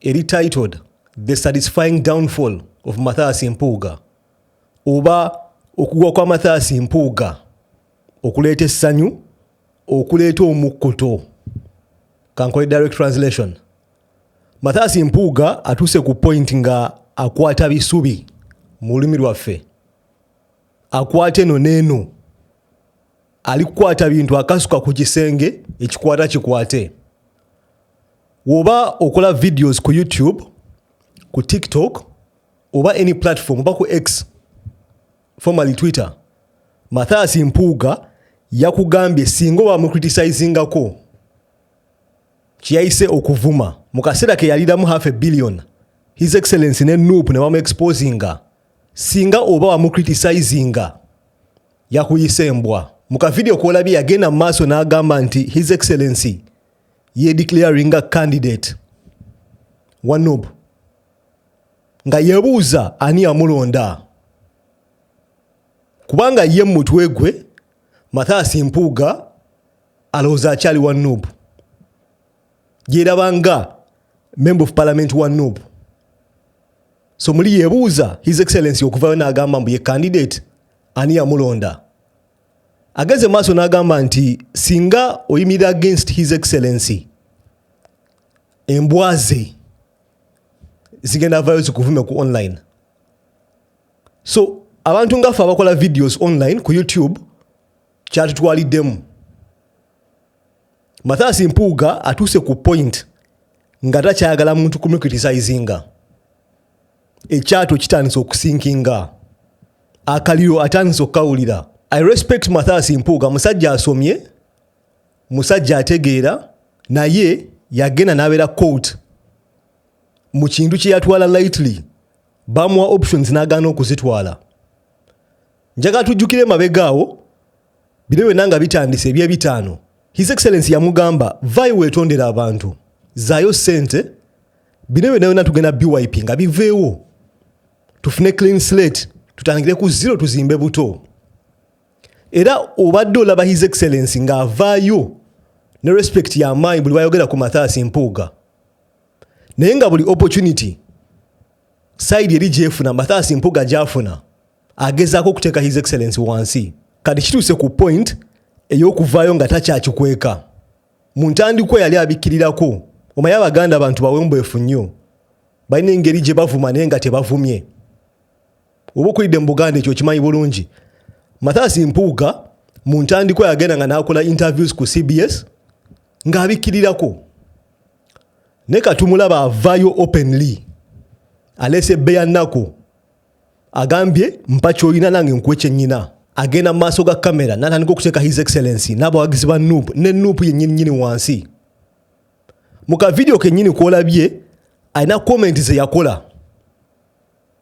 eri titled the satisfying downfall of mathias mpuuga oba okugwa kwa mathias mpuuga okuleeta essanyu okuleeta omukkuto kankole direct translation mathias mpuuga atuuse ku point nga akwata bisubi mu lulimi lwaffe akwata eno neeno ali kukwata bintu akasuka ku kisenge ekikwata kikwate woba okola videos ku youtube ku tiktok oba any platform oba ku x formaly twitter mathias mpuuga yakugambye singa oba mukritisizingako kyeyayise okuvuma mu kaseera ke yaliramu half a billion his excellence ne nup ne bamu exposinga singa oba wamucritisizinga yakuyisa embwa mu kavidiyo kwolabye yagenda mu maaso n'agamba nti his excellency yedeclaringa candidate wa nup nga yebuuza ani yamulonda kubanga ye mumutwe gwe Mathias Mpuuga alowooza akyali wa Nup. Gyeraba nga member of parliament wa Nup. So muli yebuuza his excellency okuvayo n'agamba mbu ye candidate ani yamulonda. Ageze maaso n'agamba nti singa oyimira against his excellency embwa ze zigenda vayo zikuvume ku online. so abantu ngaffe abakola videos online ku youtube kyatutwaliddemu mathasi mpuuga atuuse ku point nga takyagala muntu kumucritisizinga ekyato kitandise okusinkinga akaliro atandise okukawulira i respect mathasi mpuuga musajja asomye musajja ategeera naye yagenda nabeera court mu kintu kyeyatwala lightly bamuwa options n'agaana okuzitwala njagala tujjukire emabega awo bino byonna nga bitandise ebyebitaano his excellence yamugamba vayo weetondera abantu zaayo ssente bino byonna byonna tugenda byp nga biveewo tufune clean slate tutandikire ku zero tuzimbe buto era obadde olaba his excellence ng'avaayo ne respect yamaanyi buli bayogera ku mathaasi mpuuga naye nga buli opportunity sayidi eri gyefuna mathasi mpuga gyafuna agezaako okuteeka his excellence wansi kati kituuse ku point ey'okuvaayo nga takyakikweka mu ntandikwa yali abikkirirako omaye abaganda abantu bawembwefu nnyo balina engeri gye bavuma naye nga tebavumye oba okulidde mu buganda ekyo okimanyi bulungi mathasi mpuuga mu ntandikwa yagenda nga n'akola interviews ku cbs ng'abikkirirako naye katumulaba avayo openly alese beya nako agambye mpa kyolina nange nkuwe kyenyina agenda maaso ga kamera natandika okuteeka his excellency n'abawagizi ba nup ne nup yenyinyini wansi mu kavidiyo kenyini kwolabye alina komenti zeyakola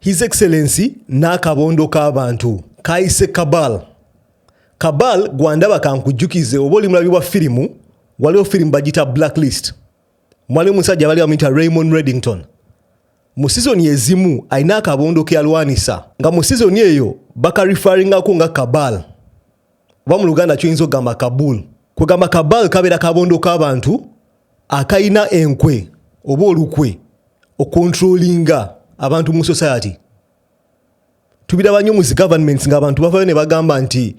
His Excellency n'akabondo k'abantu kaayise Kabal. Kabal gwandaba kankujjukize oba oli mulabi wa firimu waliwo firimu bagita Blacklist. Mwaliwo omusajja abali bamuyita Raymond Reddington. Mu sizoni ezimu alina akabondo ke yalwanisa nga mu sizoni eyo bakarifaringako nga Kabal oba mu Luganda kyoyinza okugamba Kabul. Kwegamba Kabal kabeera kabondo k'abantu akalina enkwe oba olukwe okontrolinga abantu mu society tubiraba nnyo muzi governments ngaabantu bavayo ne bagamba nti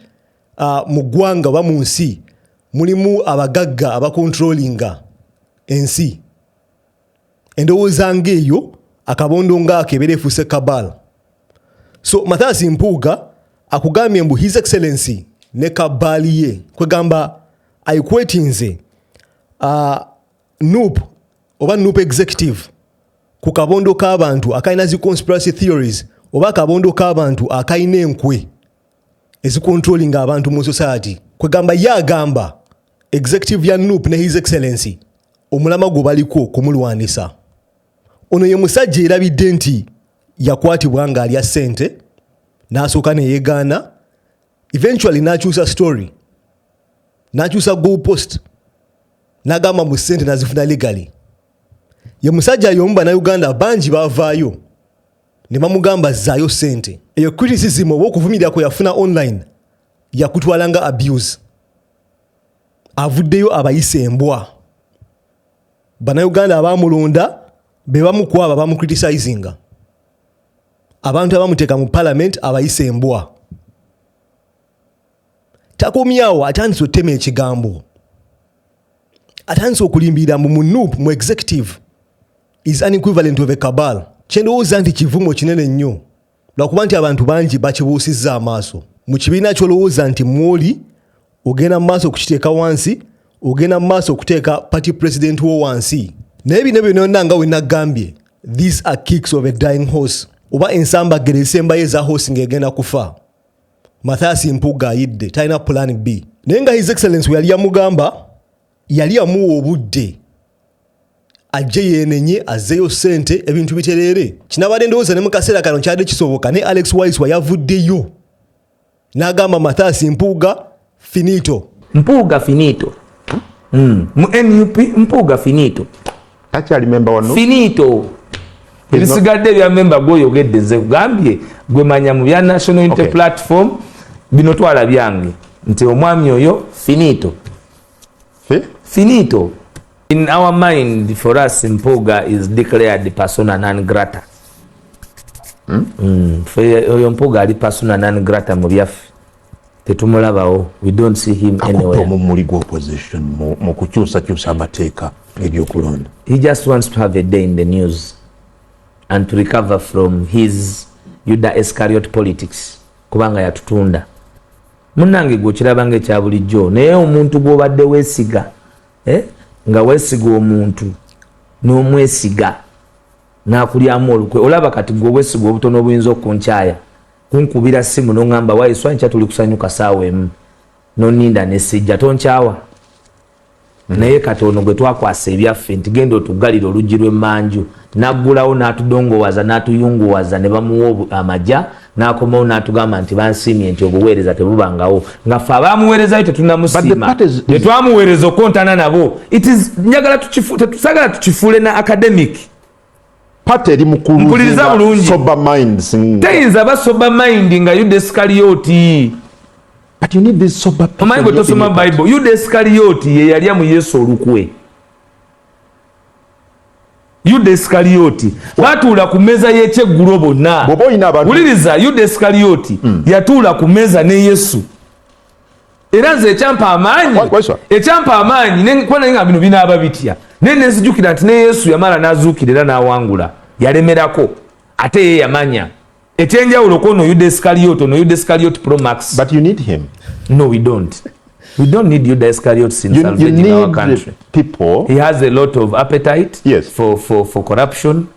uh, mu ggwanga oba mu nsi mulimu abagagga abakontrolinga ensi endowooza ng'eyo akabondo ngaako ebeera efuuse kabal so mathasi mpuuga akugambye mbu his excellency ne kabaali ye kwegamba aikwetinze uh, nup oba nup executive ku kabondo k'abantu akalina zi conspiracy theories oba akabondo k'abantu akalina enkwe ezikontrolinga abantu mu society kwegamba ye agamba executive ya nup ne his excellency omulama gwe baliko kumulwanisa ono ye musajja erabidde nti yakwatibwa ng'alya ssente n'asooka ne yeegaana eventually n'akyusa story n'akyusa go post n'agamba mu ssente nazifuna legaly ye musajja y'omu bannayuganda bangi bavaayo ne bamugamba zzaayo ssente eyo criticism oba okuvumirira kwe yafuna online yakutwala nga abuse avuddeyo abayise embwa banauganda abamulonda bebamukwaba bamucritisizinga abantu abamuteeka mu palamenti abayise embwa takomyawo atandise otema ekigambo atandise okulimbirira mbu munup mu executive is an equivalent of a cabal kyendowooza nti kivumo kinene nnyo lwakuba nti abantu bangi bakibuusizza amaaso mu kibiina kyolowooza nti mwoli ogenda mu maaso okukiteeka wansi ogenda mu maaso okuteeka party president wo wansi naye bino byonona nga wenagambye these are kicks of a dying horse oba ensambagere ezisembayo eza horse ng'egenda kufa mathias mpuga ayidde talina plan b naye nga his excellence weyali yamugamba yali yamuwa obudde ajje yenenye azzeyo sente ebintu bitereere kinabadde ndowooza ne mu kaseera kano kyadde kisoboka ne alex waiswa yavuddeyo n'agamba mathias mpuuga finito mpuuga finito mm. mu nup mpuuga finito takyali memba wano finito ebisigadde ebya memba gwoyogedde nze kugambye gwe manya mu bya national unity okay. platform bino twala byange nti omwami oyo finito eh? finito in our mind for us mpuga is declared persona non grata hmm? mm. oyo mpuga ali persona non grata mu byaffe tetumulabawo we don't see him anywhere omumuli gwa opposition mu kukyusakyusa amateeka ebyokulonda he just wants to have a day in the news and to recover from his yuda escariot politics kubanga yatutunda Munnange gwe okiraba nga ekya bulijjo naye omuntu gw'obadde weesiga eh, nga weesiga omuntu n'omwesiga n'akulyamu olukwe olaba kati gwe obwesiga obutono obuyinza okunkyaya kunkubira simu n'oŋŋamba waayiswa nkya tuli kusanyuka saawa emu noninda nesijja tonkyawa naye kati ono gwe twakwasa ebyaffe nti genda otuggalire oluggi lw'emmanju n'aggulawo n'atudongowaza n'atuyunguwaza ne bamuwa amaja n'akomawo n'atugamba nti bansiimye nti obuweereza tebubangawo nga ffe abaamuweerezayo tetunamusiima ne twamuweereza okukontana nabo njagala tetusagala tukifuule na academic Pate eri mukuliriza bulungi sober minds mm. teyinza ba sober mind nga yuda esikaliyoti but you need this sober people omanyi bwetosoma bible yuda esikaliyoti yeyalya mu yesu olukwe yuda esikaliyoti batuula ku mmeeza y'ekyeggulo bonna wuliriza yuda esikaliyoti mm. yatuula ku mmeeza ne yesu era nze ekyampa amaanyi ekyampa amaanyi kuba naye nga bino binaaba bitya naye nenzijukira nti ne yesu yamala n'azuukira era n'awangula yalemerako ate ye yamanya ekyenjawulo ku ono yuda escariot ono yuda escariot pro max but you need him no we don't we don't need yuda escariot in you, you need our country people he has a lot of appetite yes. for, for, for corruption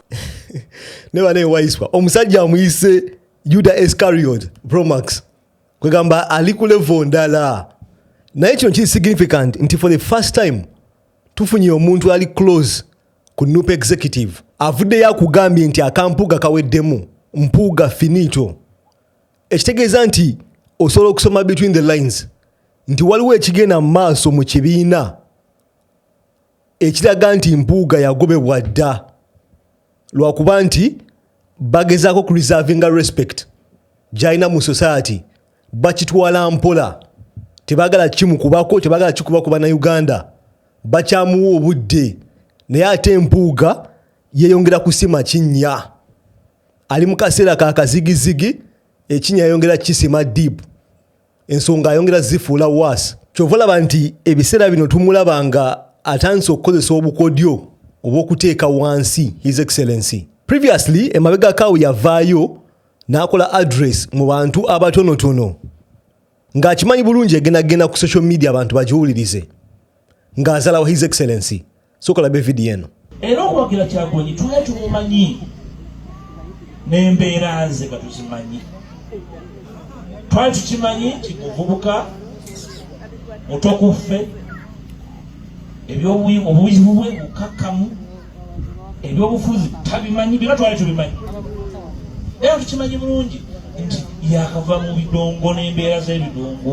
ne bane waiswa omusajja amuyise yuda escariot pro max kwegamba ali ku levo ndala naye kino kiri significant nti for the first time tufunye omuntu ali close ku nup executive avuddeyo akugambye nti akampuuga kaweddemu mpuuga finito ekitegeeza nti osobola okusoma between the lines nti waliwo ekigenda mu maaso mu kibiina ekiraga nti mpuuga yagobebwa dda lwakuba nti bagezaako kureservinga respect gyalina mu society bakitwala mpola tebagala kimukubako tebagala kikuba ku banauganda bakyamuwa obudde naye ate empuuga yeyongera kusima kinnya ali mu kaseera ka kazigizigi ekinnya yayongera kisima deep ensonga ayongera zifuula waasi kyova olaba nti ebiseera bino tumulaba nga atandise okukozesa obukodyo obwokuteeka wansi his excellency previously emabega kawo yavaayo n'akola address mu bantu abatonotono ng'akimanyi bulungi egenda kugenda ku social media abantu bagiwulirize ng'azalawo his excellency soka labe video eno era okuwagira kyagulanyi tula tumumanyi nembeera nze nga tuzimanyi twali tukimanyi nti muvubuka mutokuffe ebyobubuzibu bwe bukakkamu ebyobufuzi tabimanyi byona twali tubimanyi era tukimanyi bulungi nti yakava mu bidongo n'embeera z'ebidongo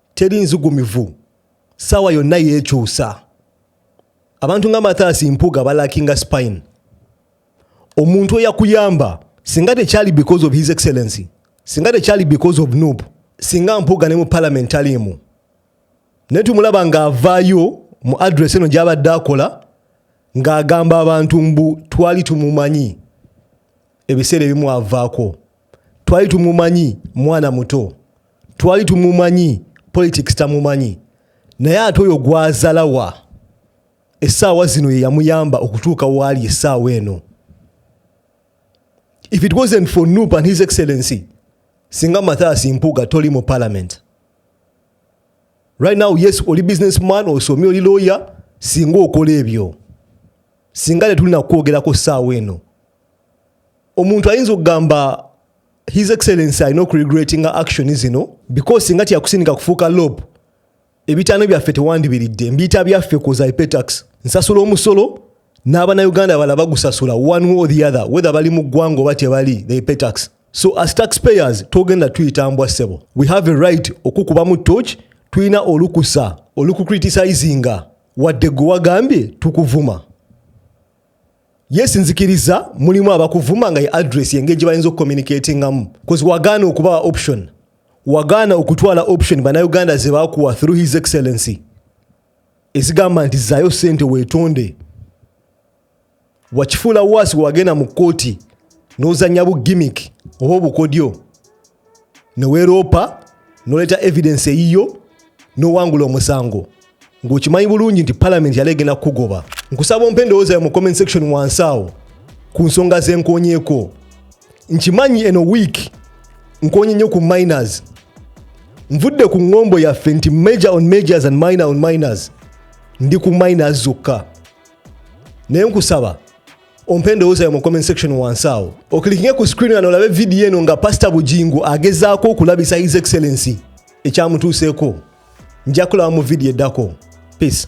teri nzugumivu saawa yonna yeekyusa abantu nga mathaasi mpuga balakinga spine omuntu eyakuyamba singa tekyali because of his excellency singa tekyali because of noob singa mpuga ne mu palamenti aliimu naye tumulaba ng'avaayo mu adress eno gy'abadde akola ng'agamba abantu mbu twali tumumanyi ebiseera ebimu avaako twali tumumanyi mwana muto twali tumumanyi politics tamumanyi naye ate oyo gwazalawa essaawa zino yeyamuyamba okutuuka waali essaawa eno if it wasn't for nup and his excellency singa mathias mpuga toli mu parliament right now yes oli business man osomye oli lawyer singa okola ebyo singa tetulina kwogerako ssaawa eno omuntu ayinza okugamba his excellency alina okuregretinga action zino because singa kyakusindika kufuuka lob ebitaano byaffe tewandibiridde mbiyita byaffe koza epetax nsasula omusolo n'abanauganda bala bagusasula one way or the other whether bali mu ggwanga oba tebali they pay tax so as taxpayers togenda tuyita mbwa ssebo we have a right okukubamu toch tulina olukusa olukucritisizinga wadde gwe wagambye tukuvuma yes nzikiriza mulimu abakuvuma nga ye address engeri gye bayinza okucommunicatingamu bcause wagaana okubawa option wagaana okutwala option banauganda ze bakuwa through his excellency ezigamba nti zayo sente wetonde wakifuula waasi wagenda mu kkooti n'ozanya bu gimmick oba obukodyo neweroopa noleeta evidence eyiyo nowangula omusango ngaokimanyi bulungi nti parliament yali egenda kukugoba nkusaba ompa endowooza yo mu comment section wansi awo ku nsonga zenkonyeko nkimanyi eno week nkonye nnyo ku miners nvudde ku ngombo yaffe nti major on majors and minor on miners ndi ku miners zokka naye nkusaba ompe endowooza yo mu comment section wansi awo okilikinge ku screen ano olabe vidiyo eno nga pasita bujingo agezaako okulabisa his excellency ekyamutuuseeko nja kulaba mu vidiyo eddako peace